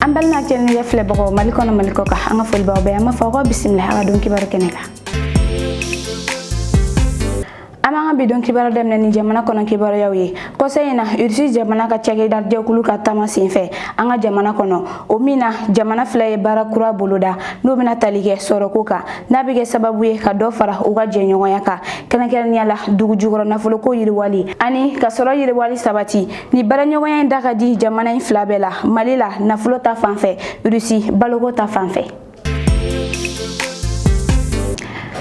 an balima kɛnɛjɛ filɛbagaw mali kɔnɔ mali kɔ kan an ka folibagaw bɛɛ an b'a fɔ aw ko bisimila a ka don kibaru kɛnɛ kan an b'an ka bidon kibaru daminɛ ni jamana kɔnɔ kibaruyaw ye kɔsa in na ursi jamana ka cakɛda jɛkulu ka taama senfɛ an ka jamana kɔnɔ o min na jamana fila ye baara kura boloda n'o bɛna tali kɛ sɔrɔko kan n'a bɛ kɛ sababu ye ka dɔ fara u ka jɛɲɔgɔnya kan kɛrɛnkɛrɛnnenya la dugu jukɔrɔ nafoloko yiriwali ani ka sɔrɔ yiriwali sabati Nin baaraɲɔgɔnya in da ka di jamana in fila bɛɛ la mali la nafolo ta fan fɛ rusi baloko ta fan fɛ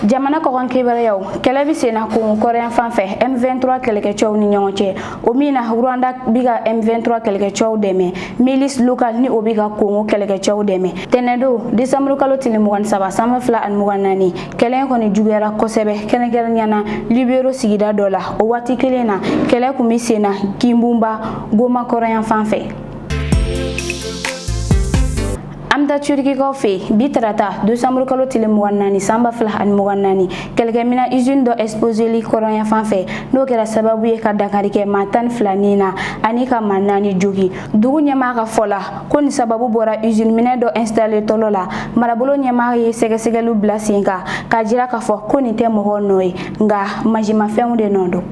jamana kɔkan kibaruyaw kɛlɛ bɛ senna kongo kɔrɔnyan fan fɛ M23 kɛlɛkɛcɛw ni ɲɔgɔn cɛ o min na Rwanda bɛ ka M23 kɛlɛkɛcɛw dɛmɛ milice local ni o bɛ ka kongo kɛlɛkɛcɛw dɛmɛ tɛnɛdon décembre kalo tile 23 san ba fila ani mugan naani kɛlɛ kɔni juguyara kosɛbɛ kɛrɛnkɛrɛnnenya na lubero sigida dɔ la o waati kelen na kɛlɛ kun bɛ sen na kinbunba goma kɔrɔnyan fan fɛ an bɛ taa turikikaw fɛ yen bi tarata desanburu kalo tile mugan naani san ba fila ani mugan naani kɛlɛkɛminan izini dɔ ɛsipozeli kɔrɔnyan fan fɛ n'o kɛra sababu ye ka dankari kɛ maa tan ni fila ni na ani ka maa naani jogi dugu ɲɛmaa ka fɔ la ko nin sababu bɔra usine minɛn dɔ installe tɔlɔ la marabolo ɲɛmaa ye sɛgɛsɛgɛliw bila sen kan k'a jira k'a fɔ ko nin tɛ mɔgɔw nɔ ye nka mansinmafɛnw de nɔ don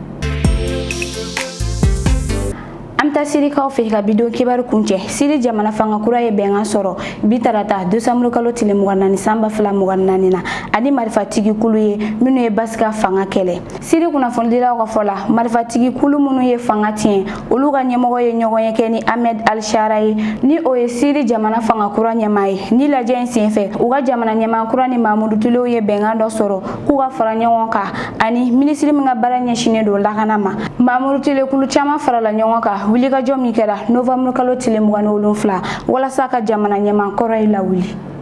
an bɛ taa sirikaw fɛ ka bidon kibaru kuncɛ siri jamana fanga kura ye bɛnkan sɔrɔ bi tarata desanburu kalo tile mugan naani san ba fila mugan naani na ani marifatigi kulu ye minnu ye bashar ka fanga kɛlɛ siri kunnafonidilaw ka fɔ la marifatigi kulu minnu ye fanga tiɲɛ olu ka ɲɛmɔgɔ ye ɲɔgɔnye kɛ ni ahmed alshara ye ni o ye siri jamana fanga kura ɲɛmaa ye nin lajɛ in senfɛ u ka jamana ɲɛmaa kura ni maa murutilenw ye bɛnkan dɔ sɔrɔ k'u ka fara ɲɔgɔn kan ani minisiri min ka baara ɲɛsinnen don lakana ma maa murutilen kulu caman farala ɲɔgɔn kan wulikajɔ min kɛra novanburu kalo tile mugan ni wolonfila walasa ka jamana ɲɛmaa kɔrɔ in lawuli